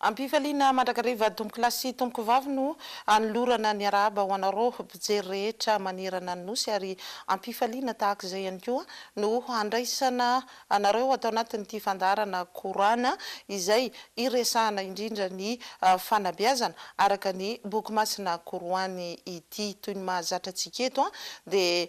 Am-pifaliana mandrakariva Tompoko lahy sy Tompoko vavy no anolorana ny arahaba ho anareo mpijery rehetra manerana ny Nosy ary am-pifaliana tahaka izay ihany koa no handraisana anareo ato anatin'ity fandaharana Kor'ana izay iresahana indrindra ny fanabeazana araka ny Boky Masina Koroany ity. Toy ny mahazatra antsika eto dia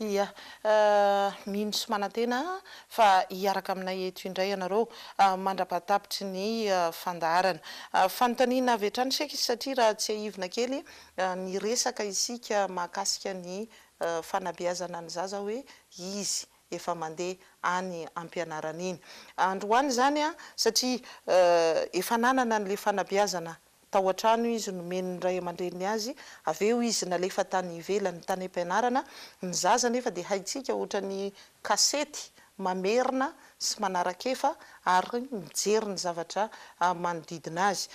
Ia. Mino sy manantena fa hiaraka aminay eto indray ianareo mandra-pahatapitry ny fandaharana. Fanontaniana avy hatrany Sheikh satria raha tsiahivina kely niresaka isika mahakasika ny fanabeazana ny zaza hoe izy efa mandeha any am-pianarana iny. Androany izany satria efa nanana an'ilay fanabeazana Tao an-trano izy nomeny ny ray aman-dreniny azy, avy eo izy nalefa tany ivelany tany am-pianarana. Ny zaza anefa dia haintsika ohatran'ny kasety mamerina sy manarakefa ary mijery ny zavatra manodidina azy.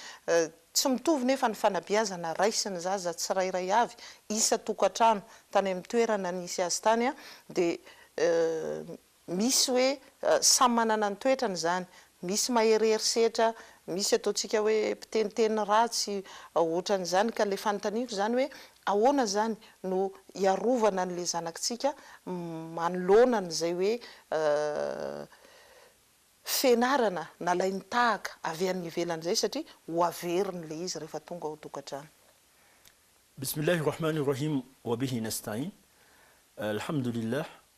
Tsy mitovy nefa ny fanabeazana raisin'ny zaza tsirairay avy. Isa-tokantrano tany amin'ny toerana nisy azy tany dia Misy hoe samy manana ny toetrany izany, misy maherehery setra, misy ataontsika hoe mpiteniteny ratsy, ohatran'izany, ka ilay fanontaniako izany hoe ahoana izany no hiarovana an'ilay zanakitsika manoloana an'izay hoe fianarana nalainy tahaka avy any ivelany izay satria ho averiny ilay izy rehefa tonga ao an-tokantrano. Bismillah Rahman Rahim Wabihi Nastain Alhamdulillah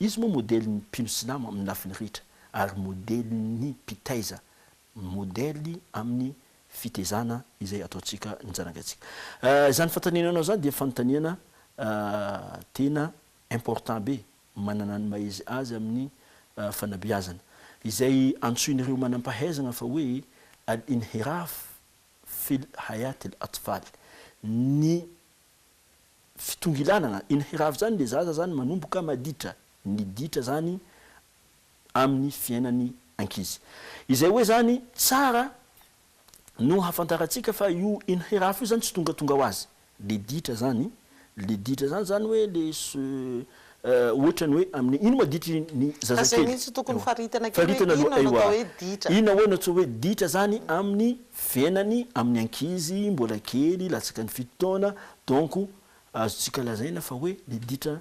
Izy moa modely ny mpino silamo amin'ny lafiny rehetra ary modely ny mpitaiza, modely amin'ny fitezana izay ataontsika ny zanagantsika. Izany fantanenanao izany dia fanontaniana tena important be, manana ny maha izy azy amin'ny fanabeazana, izay antsoin'ireo manampahaizana fa hoe al-inhiraf fil hayat al-atfal, ny fitongilanana eny Hirava zany le zaza zany manomboka maditra ny ditra zany aminy fiainany ankizy izay hoe zany tsara no hafantarantsika fa io eny Hirava io zany tsy tongatonga ho azy le ditra zany le ditra zany zany hoe le Ohatrany hoe amin'ny ino ma ditra ny zazakely? Fa zay mihitsy tokony faritana kely hoe inona no atao hoe ditra? Inona hoy no atsoa hoe ditra zany amin'ny fiainany amin'ny ankizy mbola kely latsaka ny fito taona donc azontsika lazaina fa hoe le ditra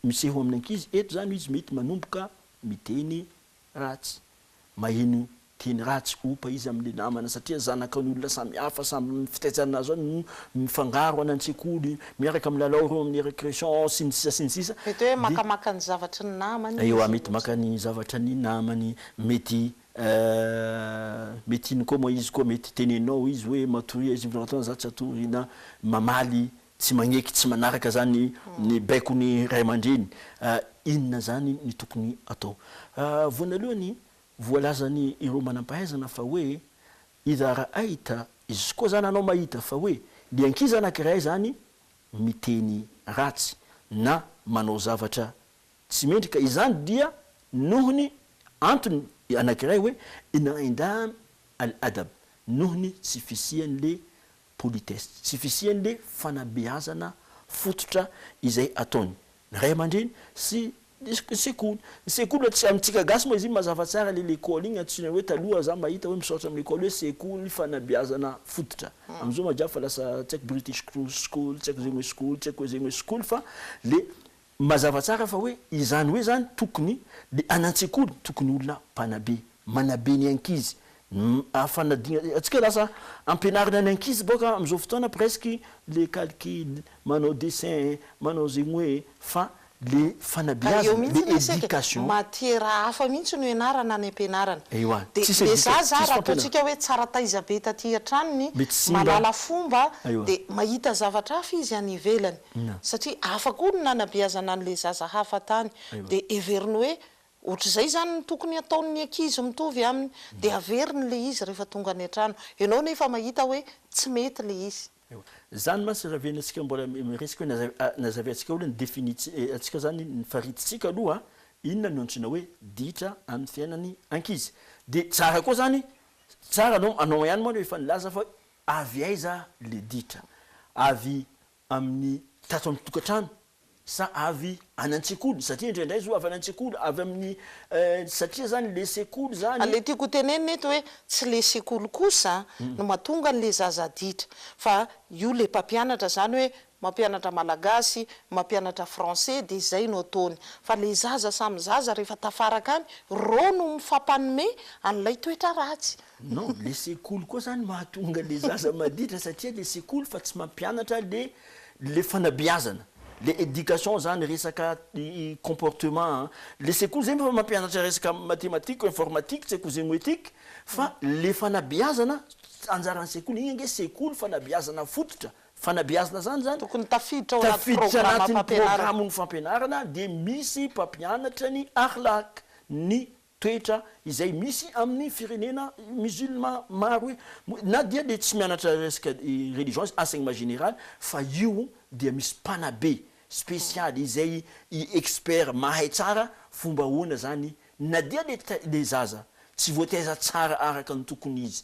miseho amin'ny ankizy eto zany izy mety manomboka miteny ratsy, maheno teny ratsy, ompa izy amin'ny namana satria zanakan'olona samihafa, samy amin'ny fitaizana azy ao no mifangaro any an-tsekoly, miaraka amin'ny lalao ireo amin'ny récréation sy ny sisa sy ny sisa. Mety hoe makamaka ny zavatry ny namany izy. Ewa, mety maka ny zavatra ny namany, mety mety iny koa moa izy koa mety teneninao izy hoe matoria izy, mifanantona za tsy hatory na mamaly Tsy magneky tsy manaraka zany ny baiko ny ray aman-dreny. Inona zany ny tokony atao? Voanalohany, voalazany ireo manam-pahaizana fa hoe idara aita, izy koa zany anao mahita fa hoe ny ankizy anakiray zany miteny ratsy na manao zavatra tsy mendry ka izany dia nohony antony anakiray hoe in'indaam al adab nohony tsy fisian'le politesse, tsy fisian'le fanabeazana fototra izay ataony ny ray aman-dreny sy ny sekoly. Ny sekoly hoe tsy amintsika gasy moa izy iny mazava tsara le lekôly iny antsoina hoe taloha za mahita hoe misaotra amin'ny lekôly hoe sekoly fanabeazana fototra. Amzao majab fa lasa tsy haiko british school tsy haiko zegny hoe school tsy haiko hoe zegny hoe school fa le Mazava tsara fa hoe izany hoe izany tokony dia any an-tsekoly tokony olona mpanabe, manabe ny ankizy, ny fanadinana antsika lasa ampianarina ny ankizy boka amin'izao fotoana presque le calcul, manao dessin, manao zegny hoe fa le Ary eo fanabeazana, le mihitsy anefa isika e, education. matiera hafa mihitsy no ianarana any am-pianarana. Ewa, Dia tsisy dia za education, za tsisy raha fampianarana. ataontsika hoe tsara taiza be taty an-tranony, Mety simba. malala fomba, Aiwa. dia mahita zavatra hafa izy any ivelany. satria hafa koa ny nanabeazana an'ilay zaza hafa tany, dia heveriny hoe ohatr'izay izany no tokony hataon'ny ankizy mitovy aminy, dia haveriny ilay izy rehefa tonga any an-trano, ianao anefa mahita hoe tsy mety ilay izy. Izany mantsy rahavenona antsika mbola miresaka hoe nazaveantsika aloha ny definiantsika izany, ny faritsintsika aloha inona no antsoina hoe ditra amin'ny fiainan'ny ankizy, dia tsara koa izany, tsara anao hanao ihany moa aloha efa nilaza fa Avy aiza le ditra? Avy amin'ny tato amin'ny tokantrano sa avy any an-tsekoly? Satria indraindray zao avy any an-tsekoly, avy amin'ny satria zany le sekoly zany. Le tiako hotenenina eto hoe tsy le sekoly kosa no mahatonga an'le zaza ditra fa io le mpampianatra zany hoe mampianatra malagasy, mampianatra français dia izay no ataony. Fa ilay zaza samy zaza rehefa tafaraka any, reo no mifampanome an'ilay toetra ratsy. Non, le sekoly koa zany mahatonga le zaza maditra satria le sekoly fa tsy mampianatra le le fanabeazana, le education zany resaka comportement an, le sekoly zay efa mampianatra resaka mathématique, informatique, tsy haiko zemoetique fa le fanabeazana anjaran'ny sekoly, iny ange sekoly fanabeazana fototra. Fanabeazana izany izany. Tokony tafiditra ao anaty programam-pampianarana. Tafiditra anatin'ny programan'ny fampianarana dia misy mpampianatra ny Akhlaq, ny toetra, izay misy amin'ny firenena musulman maro e. Na dia dia tsy mianatra resaka religion izy, enseignement général, fa io dia misy mpanabe spécial izay expert mahay tsara fomba ahoana izany na dia le zaza tsy voataiza tsara araka ny tokony izy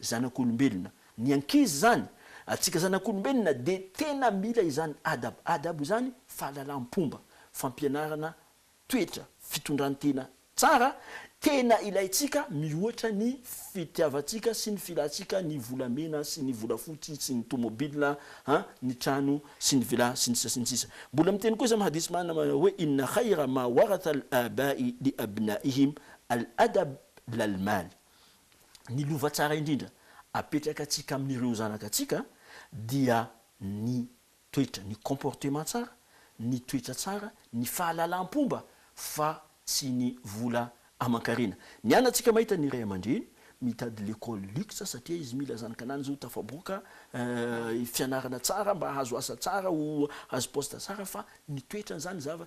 Zanak'olombelona. Ny ankizy izany, antsika zanak'olombelona dia tena mila izany adab, adab izany fahalalam-pomba, fampianarana toetra, fitondran-tena tsara, tena ilaintsika mihoatra ny fitiavantsika sy ny filantsika ny volamena sy ny volafotsy sy ny tomobilina an, ny trano sy ny villa sy ny sisa sy ny sisa. Mbola miteny koa izy amin'ny hadith manana manao hoe inna khayra ma waratha al-aba'i li abna'ihim al-adab lal-mal. ny lova tsara indrindra apetraka antsika amin'ireo zanaka antsika dia ny toetra, ny comportement tsara, ny toetra tsara, ny fahalalam-pomba fa tsy ny vola aman-karena. Ny an antsika mahita ny ray aman-dreny mitady l'école luxe satria izy mila zanakananjy ho tafaboaka fianarana tsara mba hahazo asa tsara ho hahazo poste tsara fa ny toetrany zany zava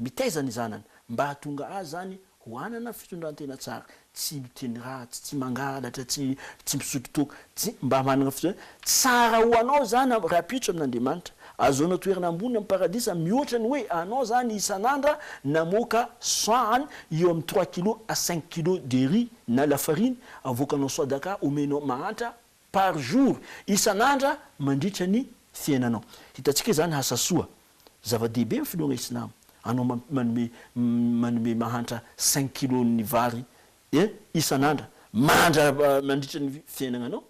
mitaiza ny zanany mba hahatonga azy izany ho hanana fitondran-tena tsara, tsy miteny ratsy, tsy mangalatra, tsy misotro toaka, tsy mba manana fitondran-tena tsara ho anao izany rahampitso amin'Andriamanitra, ahazoanao toerana ambony amin'ny paradisa mihoatra ny hoe anao izany isan'andra namoaka sahany eo amin'ny trois kilos à cinq kilos de riz na lafariny avoakanao swadaka omenao mahantra, Par jour, isan'andra mandritra ny fiainanao. Hitantsika izany asa soa. Zava-dehibe ny finoana islamo. Anao manome manome mahantra cinq kilos n'ny vary e isan'andra mandra mandritra ny fiainagnanao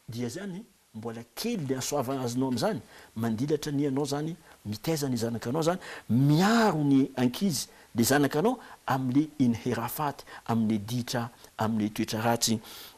dia zany mbola kely le hasoavana azonao amin'izany. Mandilatra ny anao zany mitaiza ny zanakanao zany, miaro ny ankizy le zanakanao amle inhirafaty amle ditra amle toetra ratsy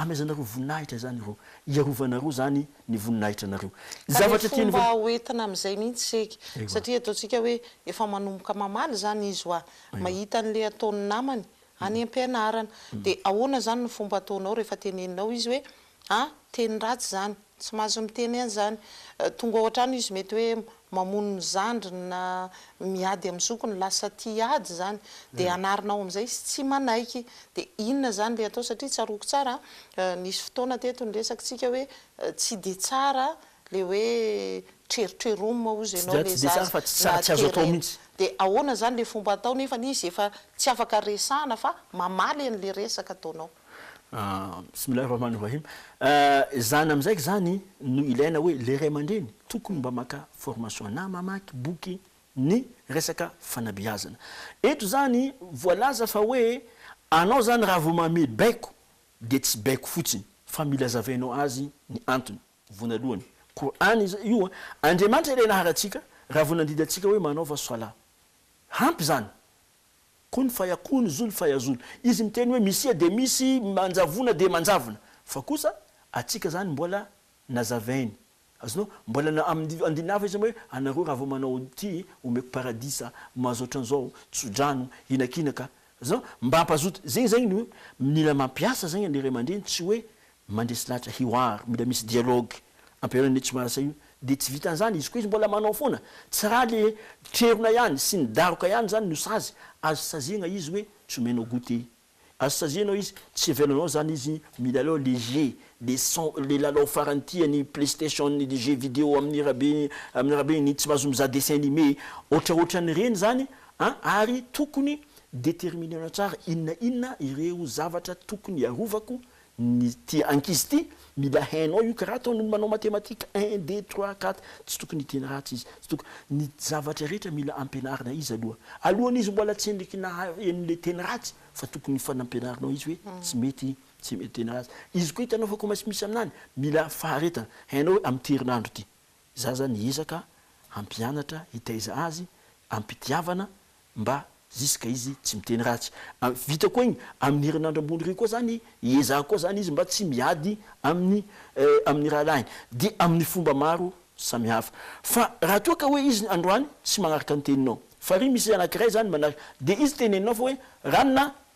Amezanareo voninahitra izany ireo, hiarovanareo izany ny voninahitra anareo. Ny Ka le zavatra tian'ny fomba vavy. ho entina amin'izay mihitsy isika. Ewa. Satria ataontsika hoe efa manomboka mamaly izany izy wa, mahita an'ilay ataon'ny namany any am-pianarana. Dia ahoana izany no fomba ataonao rehefa teneninao izy hoe, ah, teny ratsy izany? Tsy mahazo miteny an'izany. Tonga ao an-trano izy mety hoe mamono ny zandriny na miady amin'ny zokiny, lasa tia ady izany. Dia anarina ao amin'izay izy tsy manaiky. Dia inona izany ilay atao? Satria tsaroako tsara nisy fotoana teto niresakintsika hoe tsy dia tsara ilay hoe trerotreroma hozy ianao ilay zaza na terena. Dia ahoana izany ilay fomba atao nefa izy efa tsy afaka resahana fa mamaly an'ilay resaka ataonao? Bismillah Rahman Rahim, izany amin'izay izany no ilaina hoe le ray aman-dreny tokony mba maka formation na mamaky boky ny resaka fanabeazana. Eto izany voalaza fa hoe anao izany raha vao mamehy baiko dia tsy baiko fotsiny fa mila hazavainao azy ny antony. Voanalohany, Qur'an io an, Andriamanitra ilay naharantsika raha vao nandidy antsika hoe manaova Salah. Hampy izany Kun faya kun zul faya zul izy miteny hoe misia dia misy manjavona dia manjavona fa kosa atsika zany mbola nazavainy azonao mbola na aminy andininy hafa izy hoe anareo raha vao manao ty omeko paradisa mahazo otranzao tsodrano hinakinaka azonao mba ampazoto zegny zegny no mila mampiasa zegny ny ray aman-dreny tsy hoe Mandresy lahatra hiwar, mila misy dialogue ampihaonana io tsy maharsa io de tsy vitany zany, izy koa izy mbola manao foana, tsy ra le trerona ihany sy ny daroka ihany zany no sazy, azo saziana izy hoe tsy omenao goûter, azo sazianao izy tsy avelanao zany izy milalao le jeu, le son, le lalao farany tiany, playstation, le jeu video amin'ny rabe, amin'ny rabe ny tsy mahazo mizaha dessin animé, ohatraohatran'ireny zany an, ary tokony determiner-na tsara inona inona ireo zavatra tokony hiarovako Ny ty ankizy ty mila hainao io karaha ataon ny manao matematika un deux trois quatre tsy tokony hiteny ratsy izy tsy tokony ny zavatra rehetra mila ampianarina izy aloha alohan izy mbola tsy endriky ny haha eny le teny ratsy fa tokony fa nampianarinao izy hoe tsy mety tsy mety teny ratsy izy koa hitanao fa koa misy aminany mila faharetana hainao hoe am ty herinandro ty zaza ny ezaka hampianatra hitaiza azy ampitiavana mba ziska izy tsy miteny ratsy vita koa igny aminy herinandro ambony ry koa zany hiezaha koa zany izy mba tsy miady aminy aminy rahalahiny dia aminy fomba maro samihafa fa raha toa ka hoe izy androany tsy manaraka ny teninao fa ry misy anakiray zany manaraka dia izy teneninao fa hoe ranona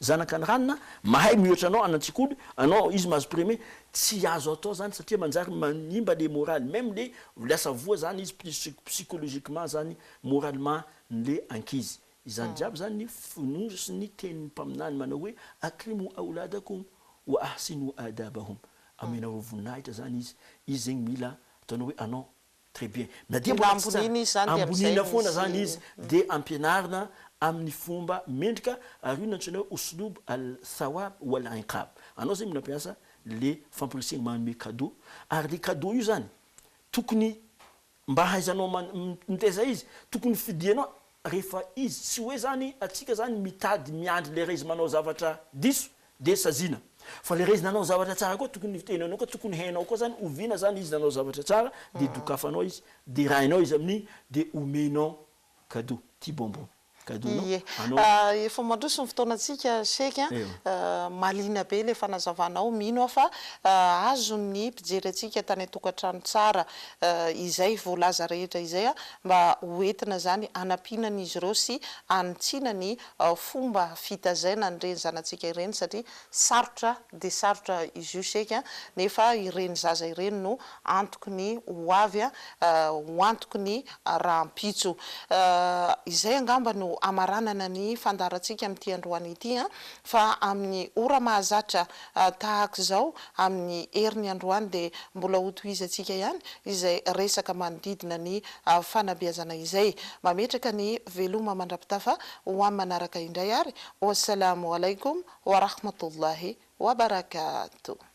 Zanaka ny ranona, mahay miohatra anao any an-tsekoly, anao izy mahazo prime, tsy azo atao zany satria manjary manimba le moraly, même le lasa voa zany izy plus psychologiquement zany moralement n'le ankizy, izany jiaby zany ny fonosin'ny tenin'ny mpaminany manao hoe akrimou aouladakoum wa ahsinou adabahum, amenareo voninahitra zany izy, izy zegny mila ataonao hoe anao Très bien. Na dia mbola tsy tsara, amboniana foana izany izy dia ampianarina amin'ny fomba mendrika ary io no antsoina hoe Uslub al-thawab wal-inqab. Anao izay mila mampiasa ilay famporisihana manome cadeau ary ilay cadeau io izany tokony mba hahaizanao mitaiza izy, tokony fidianao Rehefa izy tsy hoe zany atsika zany mitady miandry le raizy manao zavatra diso de saziana fa le raizy nanao zavatra tsara koa tokony tenenao koa tokony hainao koa zany oviana zany izy nanao zavatra tsara de dokafanao izy de rainao izy amin'iny de omenao cadeau ty bonbon cadeau nao anao. Efa mandroso ny fotoanantsika Sheikh a! Mahaliana be ilay fanazavanao, mino aho fa azon'ny mpijery antsika tany an-tokantrano tsara izay voalaza rehetra izay a! mba ho entina izany hanampiana an'izy ireo sy hanitsiana ny fomba fitazaina an'ireny zanatsika ireny satria sarotra dia sarotra izy io seka nefa ireny zaza ireny no antoky ny ho avy ho antoky ny rahampitso. Izay angamba no hamaranana ny fandaharantsika amin'ity androany ity fa amin'ny ora mahazatra tahaka izao amin'ny heriny androany dia mbola hotohizantsika ihany izay resaka manodidina ny fanabeazana izay. Mametraka ny veloma mandrapitafa ho amin'ny manaraka indray ary. Wassalaamu Alaikum wa Rahmatullahi wa Barakatuh.